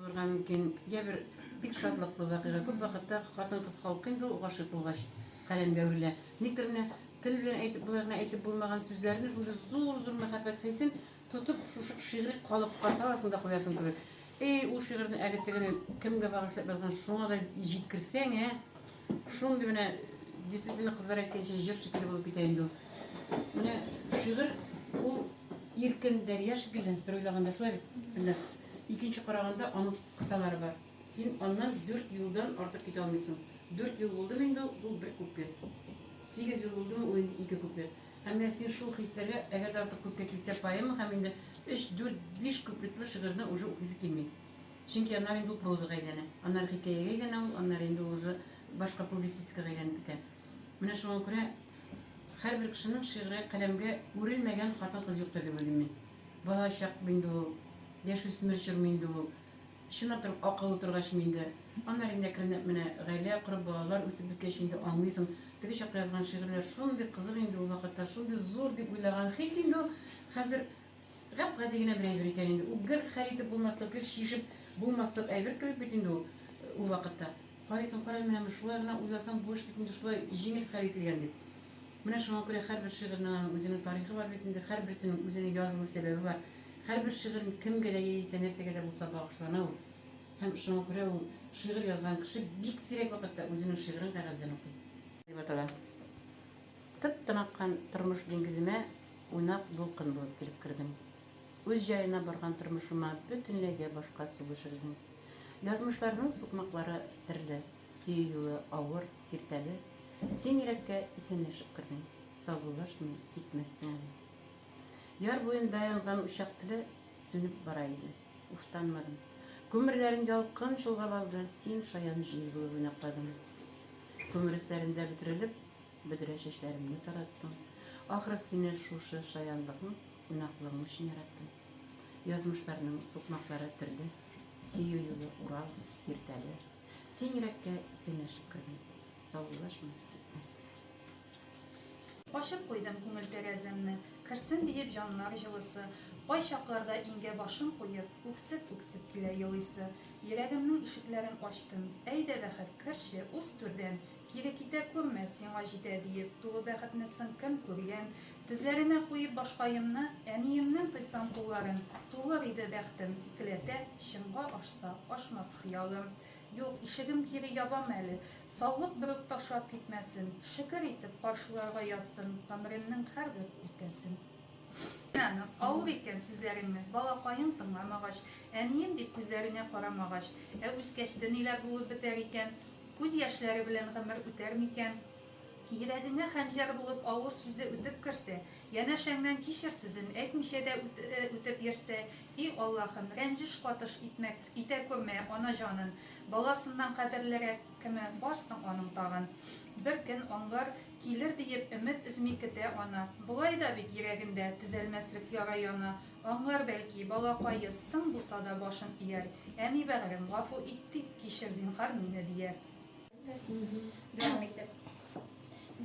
Булырга мөмкин. Йә бер бик шатлыклы вакыйга. Күп вакытта хатын-кыз халкы инде ул гашыйк булгач каләмгә үрелә. Никтер менә тел белән әйтеп болай гына әйтеп булмаган сүзләрне шундый зур-зур мәхәббәт хисен тотып шушы шигъри калыпка саласың да куясың кебек. Эй, ул шигырьне әле тегене кемгә багышлап язган, шуңа да җиткерсәң, ә? Шундый менә действительно кызлар әйткәнчә җыр шикелле булып китә инде ул. Менә шигырь ул иркен дәрья шикелле, бер уйлаганда шулай бит, Ильназ. Икенче караганда аның кысалары бар. Син аннан дүрт юлдан артык китә алмыйсың. Дүрт юл булдымы инде ул, ул бер куплет. Сигез юл булдымы ул инде ике куплет. Һәм менә син шул хисләргә, әгәр дә артык күпкә китсә поэма һәм инде өч, дүрт, биш куплетлы шигырьне уже укыйсы килми. Чөнки аннары инде ул прозага әйләнә. Аннары хикәягә әйләнә ул, аннары инде ул уже башка публицистикага әйләнеп китә. Менә шуңа күрә һәрбер кешенең шигырьгә, каләмгә үрелмәгән хатын-кыз юктыр дип уйлыйм мин. Бала чак бу инде ул, яшүсмер чор бу инде ул. Чынлап та ук акыллы утыргач бу инде. Аннары инде әкренләп менә гаилә корып, балалар үсеп беткәч инде аңлыйсың. Теге чакта язган шигырьләр шундый кызык инде ул вакытта, шундый зур дип уйлаган хис инде ул, хәзер гап-гади генә бер әйбер икән инде. Ул гер хәл итеп булмаслык, гер чишеп булмаслык әйбер кебек бит инде ул ул вакытта. Карыйсың, кара, менә шулай гына уйласаң, бу эш бит инде шулай җиңел хәл ителгән дип. Менә шуңа күрә һәрбер шигырьнең аның үзенең тарихы бар бит инде, һәрберсенең үзенең язылу сәбәбе бар. Һәрбер шигырь кемгә дә яисә нәрсәгә дә булса багышлана ул. Һәм шуңа күрә ул шигырь язган кеше бик сирәк вакытта үзенең шигырен кәгазьдән укый. Дип атала. Тып-тын аккан тормыш диңгеземә уйнап дулкын булып килеп кердең. Үз җаена барган тормышыма бөтенләй дә башка су бешердең. Язмышларның сукмаклары терле, сөю юлы авыр. Киртәле, син йөрәккә исәнләшеп кердең, саубуллашмый китмәссең әле. Яр буенда янган учак теле сүнеп бара иде. Уфтанмадым. Күмерләрен ялкын чолгап алды, син шаян җил булып уйнакладың. Күмер өсләрендә бөтерелеп, бөдрә чәчләремне тараттың. Ахры, сине шушы шаянлыгың, уйнаклыгың өчен яраттым. Язмышларның сукмаклары төрде. Сөю юлы, Урал, Киртәле. Син йөрәккә исәнләшеп кердең. Саубуллашма, китмәссең. Ачып куйдым күңел тәрәзәмне. Керсен диеп җаннар җылысы. Кайчакларда иңгә башын куеп, үксеп-үксеп килә елыйсы. Йөрәгемнең ишекләрен ачтым. Әйдә, бәхет, керче, уз түрдән. Кире китә күрмә, сиңа җитә, диеп, тулы бәхетне соң кем күргән? Тезләренә куеп башкаемны, әниемнең тойсам кулларын, Тулыр иде бәхтем, икеләтә, чынга ашса, ашмас хыялым. Юк, ишеген кире ябам әле, саулык берүк ташлап китмәсен, Шөкер итеп, каршыларга язсын гомеремнең һәрбер үпкәсен. Әнә, авыр икән сүзләреңне, балакаең тыңламагач, Әнием дип күзләренә карамагач, Ә үскәч, тениләр булып бетәр икән, Күз яшьләре белән гомер үтәр микән? Йөрәгеңә хәнҗәр булып авыр сүзе үтеп керсә, янәшәңнән кичер сүзен әйтмичә дә үтеп йөрсә, и Аллаһым, рәнҗеш катыш итмә, итә күрмә ана җанын. Баласыннан кадерлерәк кеме бар соң аның тагын? Бер көн аңлар, килер диеп өмет өзми көтә ана. Болай да бит йөрәгендә төзәлмәслек яра яна, Аңлар бәлки, балакае, соң булса да башын ияр, Әни бәгърем, гафу ит тик, кичер, зинһар, мине, дияр. Дәвам итеп.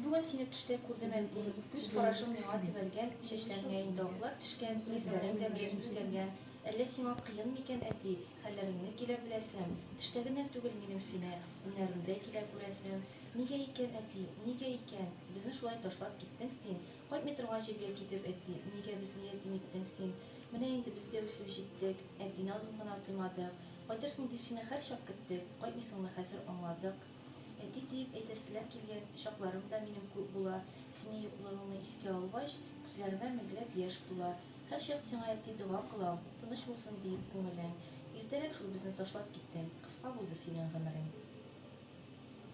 Бүген сине төштә күрдем, әти, Күз карашың миңа төбәлгән, Чәчләреңә инде аклар төшкән, Йөзләрең дә бераз үзгәргән. Әллә сиңа кыен микән, әти? Хәлләреңне килә беләсем, Төштә генә түгел минем сине, Уйнарымдә килә күрәсем. Нигә икән, әти, нигә икән, Безне шулай ташлап киттең син? Кайтмый торган җиргә китеп, әти, нигә безне ятим иттең син? Менә инде без дә үсеп җиттек, әтине озын гына тыймадык. Кайтырсың дип сине һәрчак көттек, кайтмыйсыңны хәзер аңладык. Әти диеп әйтәселәр килгән чакларым да минем күп була, синең юклыгыңны искә алгач, күзләремә меңләп яшь тула. Һәрчак сиңа, әти, дога кылам, тыныч булсын диеп күңелең. Иртәрәк шул безне ташлап киттең, кыска булды синең гомерең.